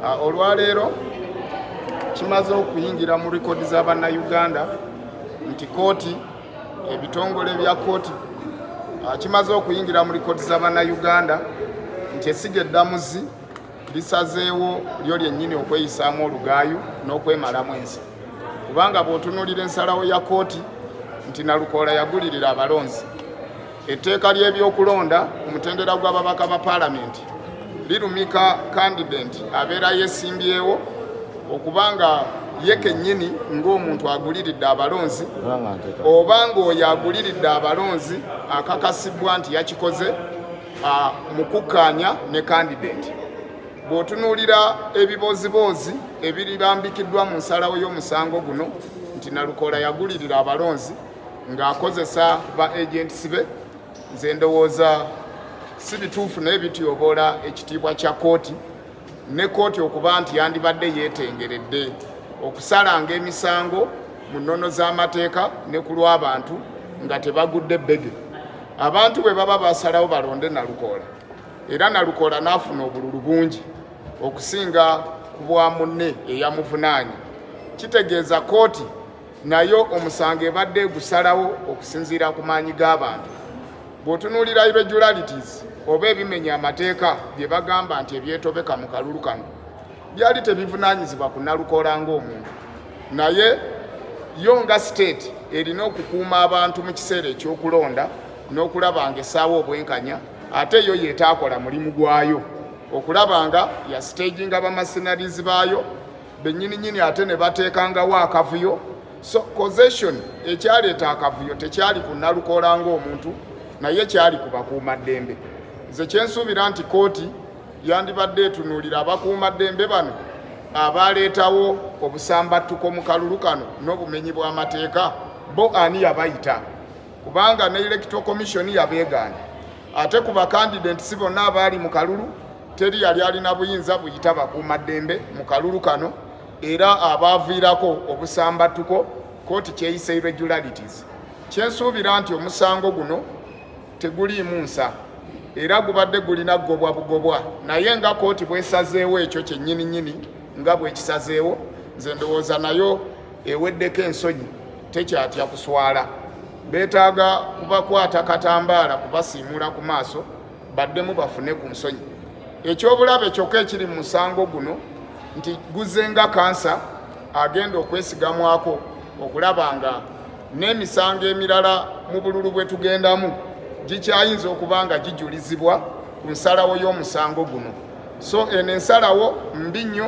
Ah, olwaleero kimaze okuyingira mu rekodi za bannayuganda nti kooti ebitongole bya kooti ah, kimaze okuyingira mu rekodi za bannayuganda nti esiga eddamuzi lisazeewo lyo lyennyini okweyisaamu olugaayu n'okwemalamu ensi kubanga bw'otunuulira ensalawo ya kooti nti nalukoola yagulirira abalonzi Etteeka ly'ebyokulonda ku mutendera gw'ababaka ba paalamenti lirumika kandidenti abeera yeesimbyewo okuba nga ye kennyini ng'omuntu aguliridde abalonzi oba ng'oyo aguliridde abalonzi akakasibwa nti yakikoze mu kukkaanya ne kandidenti bw'otunuulira ebibooziboozi ebiribambikiddwa mu nsalawo y'omusango guno nti nalukoola yagulirira abalonzi ng'akozesa ba agents be nze ndowooza si bituufu naye bityoboola ekitiibwa kya kooti ne kooti okuba nti yandibadde yeetengeredde okusalanga emisango mu nnono z'amateeka ne ku lw'abantu nga tebagudde bbege abantu bwe baba basalawo balonde nalukoola era nalukoola n'afuna obululu bungi okusinga ku bwa munne eyamuvunaanye kitegeeza kooti nayo omusango ebadde egusalawo okusinziira ku maanyi g'abantu bw'otunuulira irregularities oba ebimenya amateeka bye bagamba nti ebyetobeka mu kalulu kano byali tebivunaanyizibwa ku nalukola ng'omuntu naye yo nga state erina okukuuma abantu mu kiseera eky'okulonda n'okulaba nga essaawo obwenkanya ate yo yetaakola mulimu gwayo okulaba nga yasiteginga bamasinalizi baayo benyini nyini ate ne bateekangawo akavuyo so causation ekyaleeta akavuyo tekyali ku nalukoola ng'omuntu naye kyali ku bakuumaddembe nze kyensuubira nti kooti yandibadde etunuulira abakuumaddembe bano abaaleetawo obusambattuko mu kalulu kano n'obumenyi bw'amateeka bo ani yabayita kubanga ne electoral commission yabeegaana Ate ku bakandidenti si bonna abaali mu kalulu teri yali alina buyinza buyita bakuuma ddembe mu kalulu kano era abaaviirako obusambattuko kooti kyeyisa irregularities kyensuubira nti omusango guno teguliimu nsa era gubadde gulina gobwa bugobwa naye nga kooti bwesazeewo ekyo kyennyini nnyini nga bwekisazeewo nze ndowooza nayo eweddeko ensonyi tekyatya kuswala beetaaga kubakwata katambaala kubasiimuula ku maaso baddemu bafune ku nsonyi ekyobulabe kyokka ekiri mu musango guno nti guzenga kansa agenda okwesigamwako okulaba nga n'emisango emirala mu bululu bwe tugendamu gikyayinza okuba nga gijulizibwa ku nsalawo y'omusango guno so eno ensalawo mbi nnyo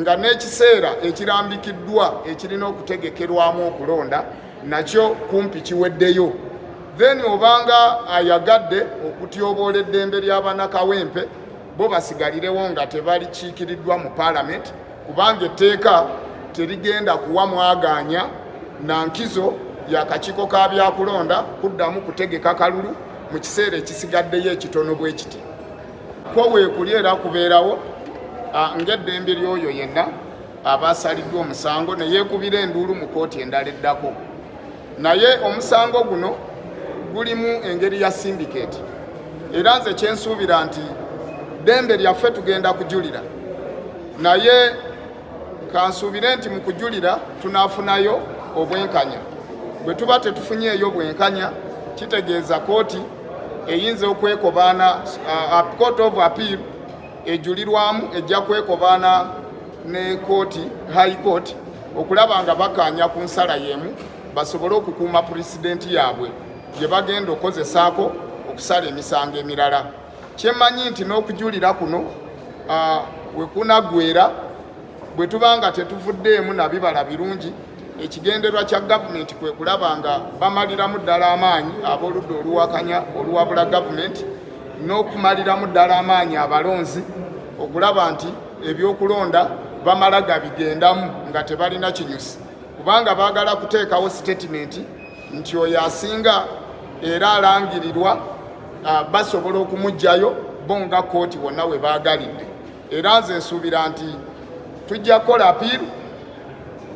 nga n'ekiseera ekirambikiddwa ekirina okutegekerwamu okulonda nakyo kumpi kiweddeyo then obanga ayagadde okutyoboola eddembe ly'abanakawempe bo basigalirewo nga tebalikiikiriddwa mu paalamenti kubanga etteeka terigenda kuwa mwagaanya na nkizo yakakiiko ka byakulonda kuddamu kutegeka kalulu mu kiseera ekisigaddeyo ekitono bwe kiti kwo weekuli era kubeerawo ng'eddembe ly'oyo yenna aba asaliddwa omusango ne yeekubira enduulu mu kooti endala eddako naye omusango guno gulimu engeri ya sindiketi era nze kyensuubira nti ddembe lyaffe tugenda kujulira naye Kansuubire nti mu kujulira tunaafunayo obwenkanya. Bwe tuba tetufunyeeyo bwenkanya kitegeeza kooti eyinza okwekobaana uh, uh, court of appeal ejulirwamu ejja kwekobaana ne kooti high court okulaba nga bakaanya ku nsala y'emu basobole okukuuma pulezidenti yaabwe gye bagenda okukozesaako okusala emisango emirala Kyemanyi nti n'okujulira kuno uh, wekunagwera bwe tuba nga tetuvuddeemu na bibala birungi ekigenderwa kya gavumenti kwe kulaba nga bamaliramu ddala amaanyi ab'oludda oluwakanya oluwabula gavumenti n'okumaliramu ddala amaanyi abalonzi okulaba nti ebyokulonda bamala gabigendamu nga tebalina kinyusi kubanga baagala kuteekawo sitatimenti nti oyo asinga era alangirirwa ah, basobola okumugjayo bo nga kooti wonna we baagalidde era nze nsuubira nti tujja kukola apiiru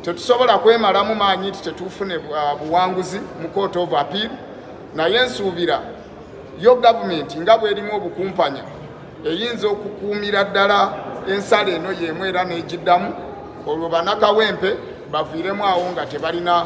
tetusobola kwemalamu maanyi nti tetufune ah, buwanguzi mu kooti ova apiiru naye nsuubira yo gavumenti nga bwerimu obukumpanya eyinza okukuumira ddala ensala eno yeemu era n'egiddamu olwo banakawempe baviiremu awo nga tebalina